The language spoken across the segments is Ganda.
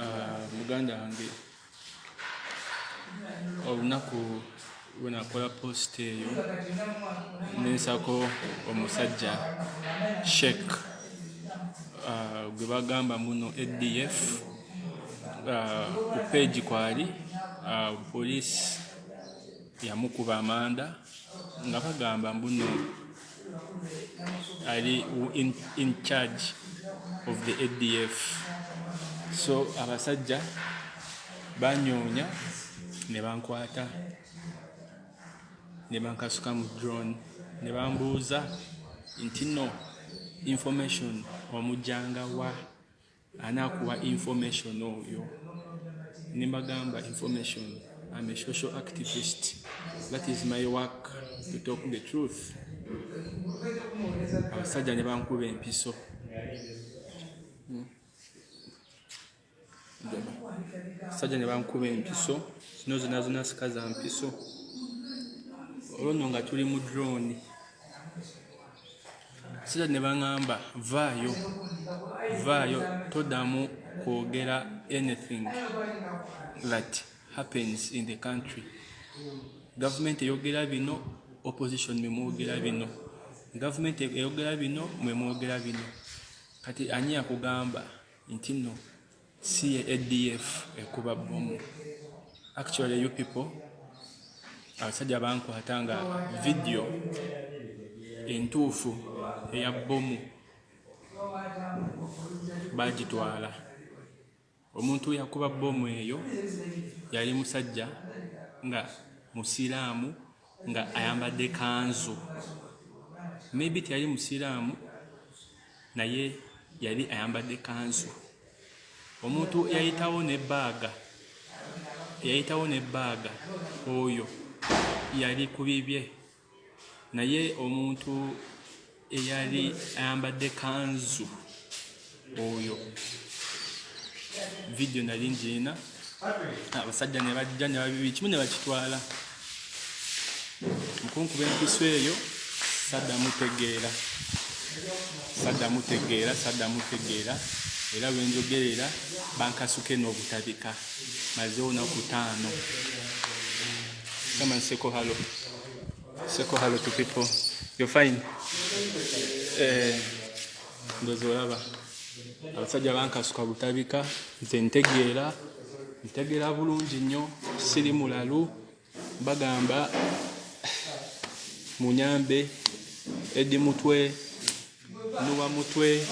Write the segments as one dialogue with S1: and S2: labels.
S1: Ah, muganda wange olunaku lwenakola post eyo nensako omusajja shek ah, gwe bagamba muno adf ah, ku page kwali police yamukuba amanda nga bagamba mbuno ali in, in charge of the adf so abasajja banyoonya ne bankwata ne bankasuka mu drone ne bambuuza nti no information omujjanga wa ani akuwa information oyo ne mbagamba information I'm a social activist that is my work to talk the truth abasajja ne bankuba empiso sajja ne bankuba empiso zino zona zona sika za mpiso olwo nno nga tuli mu drone sira ne baŋamba vaayo vaayo todamu kwogera anything that happens in the country gavumenti eyogera bino opposition memwogera bino gavumenti eyogera bino mwemwogera bino kati ani akugamba nti no si ye ADF ekuba bbomu. Actually you people abasajja bankwata nga vidiyo entuufu eya bbomu baagitwala. Omuntu yakuba bbomu eyo yali musajja nga Musiraamu nga ayambadde kanzu maybe teyali musiraamu naye yali ayambadde kanzu omuntu yayitawo ne baaga yayitawo ne baaga oyo yali ku bibye naye omuntu eyali ayambadde kanzu oyo vidiyo nali ngiina abasajja ne bajja ne babibi kimu ne bakitwala mukunkuba empiso eyo saddamu tegeera saddamu tegeera saddamu tegeera era bwe njogerera bankasuke n'obutabika mazeewo naku taano kamanseko halo Seko hello to people. You're fine. Eh, ndozo laba. Abasajja bankasuka butabika nze ntegeera ntegeera bulungi nnyo siri mulalu bagamba munyambe edi mutwe nuwa mutwe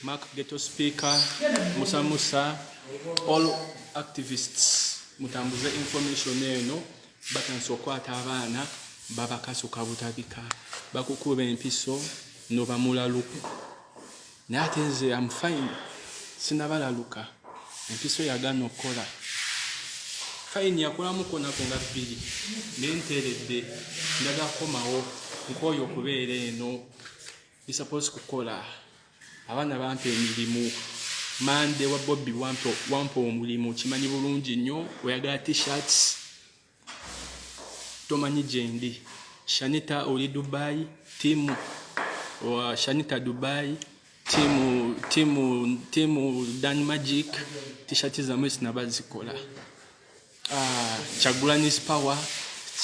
S1: mark geto speaker musa musa all activists mutambuze information eno batandise okukwata abaana babakasuka butabika bakukuba empiso nobamulaluku naye ate nze am fine sinabalaluka empiso yagana okukola fine yakolamuko nako nga bbiri naye nteredde ndaga kukomawo nkooyo okubeera eno bisapozi kukola abaana bampa emirimu mande wa bobi wampa omulimu kimanyi bulungi nnyo oyagala tshirts tomanyi gyendi shanita oli dubai timu wa shanita dubai timu timu timu dan magic tishati zamwe sinabazikola Ah, Kyagulanyi's power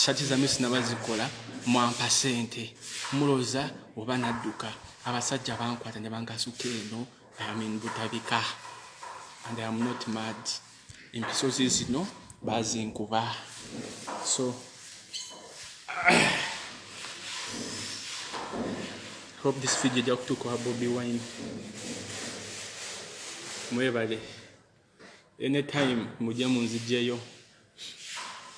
S1: shati zamwe sinaba zikola mwampa sente muloza oba nadduka abasajja bankwata ne bangasuka eno amin butabika and am not mad empisozi zino bazinkuba so hope this video ejja kutuuka wa bobi wine mwebale Any time mujje munzijjeyo.